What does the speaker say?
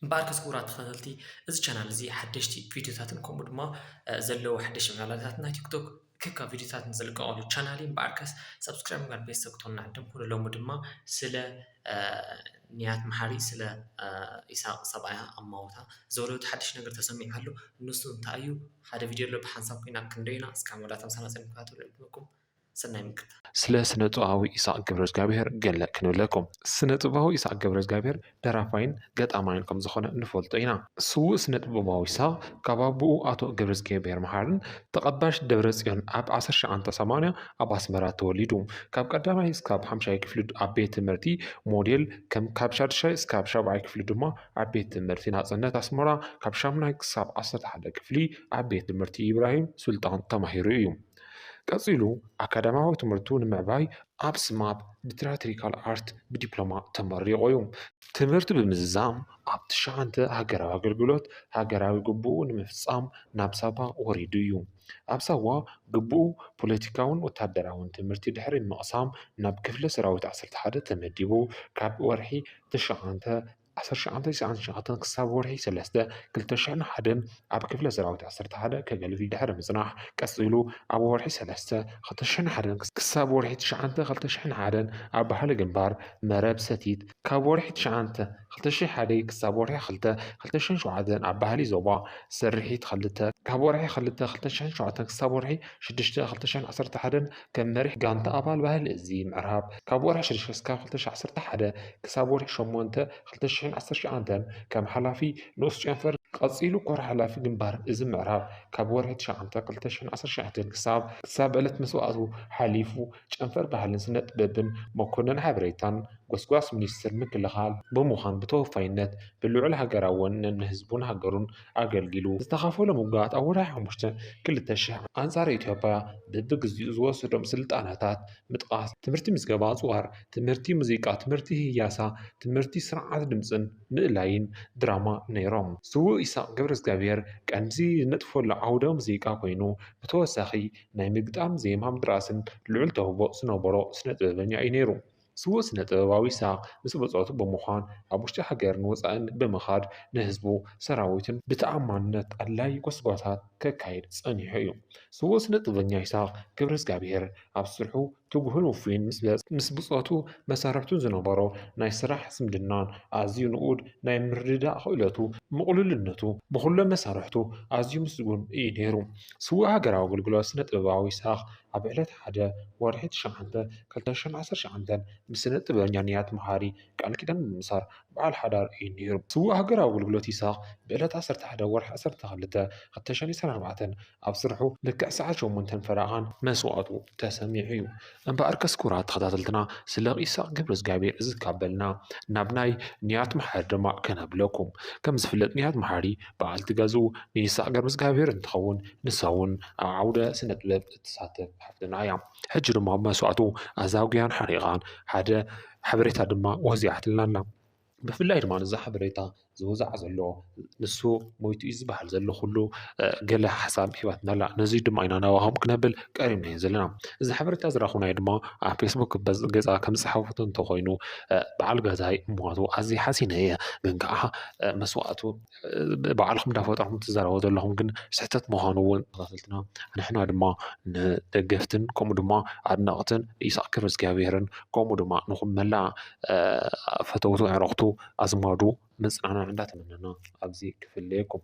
እምበኣርከስ ክቡራት ተኸታተልቲ እዚ ቻናል እዚ ሓደሽቲ ቪድዮታትን ከምኡ ድማ ዘለዉ ሓደሽቲ ምዕባለታት ናይ ቲክቶክ ክካ ቪድዮታት ንዝልቀቐሉ ቻናል እዩ እምበኣርከስ ሰብስክራይብ ምግባር ቤተሰብ ክትኮኑና ዕድም ኩኑ ሎሚ ድማ ስለ ንያት መሓሪ ስለ ኢሳቅ ሰብኣያ ኣማውታ ዘውለቱ ሓድሽ ነገር ተሰሚዑ ኣሎ ንሱ እንታይ እዩ ሓደ ቪድዮ ኣሎ ብሓንሳብ ኮይና ክንደይና እስካ መወዳእታ ምሳና ፅን ክታተሉ ዕድመኩም ሰናይ ምክታል። ስለ ስነጥበባዊ ኢሳቕ ገብረዝጋብሄር ገለ ክንብለኩም። ስነጥበባዊ ኢሳቕ ገብረዝጋብሄር ደራፋይን ገጣማይን ከም ዝኾነ ንፈልጦ ኢና። ስዉእ ስነጥበባዊ ኢሳቕ ካብ ኣቡኡ ኣቶ ገብረዝጊሄብሄር መሓርን ተቐባሽ ደብረጽዮን ኣብ ዓሰርተ ሸውዓተ ሰማንያ ኣብ ኣስመራ ተወሊዱ። ካብ ቀዳማይ እስካብ ሓምሻይ ክፍሊ ኣብ ቤት ትምህርቲ ሞዴል ከም ካብ ሻዱሻይ እስካብ ሻብዓይ ክፍሊ ድማ ኣብ ቤት ትምህርቲ ናጽነት ኣስመራ ካብ ሻሙናይ ክሳብ ዓሰርተ ሓደ ክፍሊ ኣብ ቤት ትምህርቲ ኢብራሂም ሱልጣን ተማሂሩ እዩ። ቀጺሉ ኣካዳምያዊ ትምህርቱ ንምዕባይ ኣብ ስማፕ ብትራትሪካል ኣርት ብዲፕሎማ ተመሪቑ እዩ። ትምህርቱ ብምዝዛም ኣብ ትሽዓተ ሃገራዊ ኣገልግሎት ሃገራዊ ግቡኡ ንምፍጻም ናብ ሳዋ ወሪዱ እዩ። ኣብ ሳዋ ግቡኡ ፖለቲካውን ወተሃደራውን ትምህርቲ ድሕሪ ምቕሳም ናብ ክፍለ ሰራዊት ዓሰርተ ሓደ ተመዲቡ ካብ ወርሒ ትሽዓተ ክሳብ ወርሒ ሸውዓተ ተዋፊሩ። ዓሰርተ ሸውዓተ ሰሳዕን ሸውዓተን ክሳብ ወርሒ ሰለስተ ክልተ ሽሕን ሓደን ኣብ ክፍለ ሰራዊት ዓሰርተ ሓደ ከገልግል ድሕሪ ምጽናሕ ቀጺሉ ኣብ ወርሒ ሰለስተ ክልተ ሽሕን ሓደን ክሳብ ወርሒ ትሽዓተ ክልተ ሽሕን ሓደን ኣብ ባህሊ ግንባር መረብ ሰቲት ካብ ወርሒ ትሽዓተ ክልተ ሽሕን ሓደን ክሳብ ወርሒ ክልተ ክልተ ሽሕን ሸውዓተን ኣብ ባህሊ ዞባ ስርሒት ክልተ ካብ ወርሒ ክልተ ክልተ ሽሕን ሸውዓተን ክሳብ ወርሒ ሽዱሽተ ክልተ ሽሕን ዓሰርተ ሓደን ከም መሪሕ ጋንታ ኣባል ባህሊ እዚ ምዕራብ ካብ ወርሒ ሽዱሽተ እስካብ ክልተ ሽሕ ዓሰርተ ሓደ ክሳብ ወርሒ ሸሞንተ ክልተ ሽሕን ዓሰርተ ሸውዓንተን ከም ሓላፊ ንኡስ ጨንፈር ቀጺሉ ኮር ሓላፊ ግንባር እዚ ምዕራብ ካብ ወርሒ ትሽዓተ ክልተ ሽሕን ዓሰርተ ሸውዓንተን ክሳብ ክሳብ ዕለት መስዋእቱ ሓሊፉ ጨንፈር ባህልን ስነጥበብን መኮነን ሓበሬታን ጎስጓስ ሚኒስትር ምክልኻል ብምዃን ብተወፋይነት ብልዑል ሃገራዊ ወነን ንህዝቡን ሃገሩን ኣገልጊሉ። ዝተኻፈሎም ውግኣት ኣብ ወርሒ ሓሙሽተ ክልተ ሽሕ ኣንጻር ኢትዮጵያ በብግዚኡ ዝወሰዶም ስልጣነታት ምጥቓስ፣ ትምህርቲ ምዝገባ ኣጽዋር፣ ትምህርቲ ሙዚቃ፣ ትምህርቲ ህያሳ፣ ትምህርቲ ስርዓት ድምጽን ምእላይን ድራማ ነይሮም። ስዉእ ኢሳቕ ገብረዝግኣብሄር ቀንዲ ዝነጥፈሉ ዓውደ ሙዚቃ ኮይኑ፣ ብተወሳኺ ናይ ምግጣም ዜማ ምድራስን ልዑል ተውህቦ ዝነበሮ ስነ ጥበበኛ እዩ ነይሩ። ስዉእ ስነ-ጥበባዊ ይስሃቅ ምስ ብጾቱ ብምዃን ኣብ ውሽጢ ሃገርን ወጻእን ብምኻድ ንህዝቡ ሰራዊቱን ብተኣማንነት ኣድላዪ ጎስጓሳት ከካይድ ጸኒሑ እዩ። ስዉእ ስነ-ጥበበኛ ይስሃቅ ገብረዝግኣብሄር ኣብ ስርሑ ትጉህን ውፉይን ምስ ብጾቱ መሳርሕቱን ዝነበሮ ናይ ስራሕ ዝምድናን ኣዝዩ ንኡድ ናይ ምርድዳእ ክእለቱ ምቕሉልነቱ ብኹሎም መሳርሕቱ ኣዝዩ ምስጉን እዩ ነይሩ። ስዉእ ሃገራዊ ኣገልግሎት ስነ-ጥበባዊ ይስሃቅ ኣብ ዕለት ሓደ ወርሒ ትሽዓተ ክልተ ሽሕን ዓሰርተ ሸውዓቸን ምስ ስነ ጥበበኛ ንያት መሃሪ ቃል ኪዳን ብምእሳር በዓል ሓዳር እዩ ነይሩ። ስዉእ ሃገራዊ ኣገልግሎት ይስሃቕ ብዕለት ዓሰርተ ሓደ ወርሒ ዓሰርተ ክልተ ክልተ ሽሕን ዒስራን ኣርባዕተን ኣብ ስርሑ ልክዕ ሰዓት ሸሞንተን ፈረቓን መስዋእቱ ተሰሚዑ እዩ። እምበኣርከስ ክቡራት ተኸታተልትና ስለ ኢሳቕ ገብረዝግኣብሄር እዝካበልና ናብ ናይ ንያት መሓሪ ድማ ከነብለኩም። ከም ዝፍለጥ ንያት መሓሪ፣ በዓልቲ ገዝኡ ንይስሐቅ ገብረእዝጋቢሄር እንትኸውን ንሳ እውን ኣብ ዓውደ ስነ ጥበብ እትሳተፍ ሓፍትና እያ። ሕጂ ድማ ኣብ መስዋእቱ ኣዛጉያን ሓሪቓን ሓደ ሓበሬታ ድማ ወዚዓትልና ኣላ። ብፍላይ ድማ እዚ ሓበሬታ ዝወዝዓ ዘሎ ንሱ ሞይቱ እዩ ዝበሃል ዘሎ ኩሉ ገለ ሓሳብ ሂባትና ኣላ። ነዚ ድማ ኢና ናባኹም ክነብል ቀሪብናዮ ዘለና። እዚ ሓበሬታ ዝረኸብናዮ ድማ ኣብ ፌስቡክ ገፃ ከም ዝፀሓፈቶ እንተኾይኑ በዓል ገዛይ ሞቱ ኣዝየ ሓዚነ እየ ግን ከዓ መስዋእቱ ባዕልኹም እንዳፈጠርኩም ትዛረቡ ዘለኹም ግን ስሕተት ምዃኑ እውን ተኸታተልትና ንሕና ድማ ንደገፍትን ከምኡ ድማ ኣድነቕትን ኢሳቅ ክብረ እግዚኣብሔርን ከምኡ ድማ ንኹም መላእ ፈተውቱ ኣዕረኽቱ ኣዝማዱ መጽናዕና እንዳተመነና ኣብዚ ክፍለየኩም።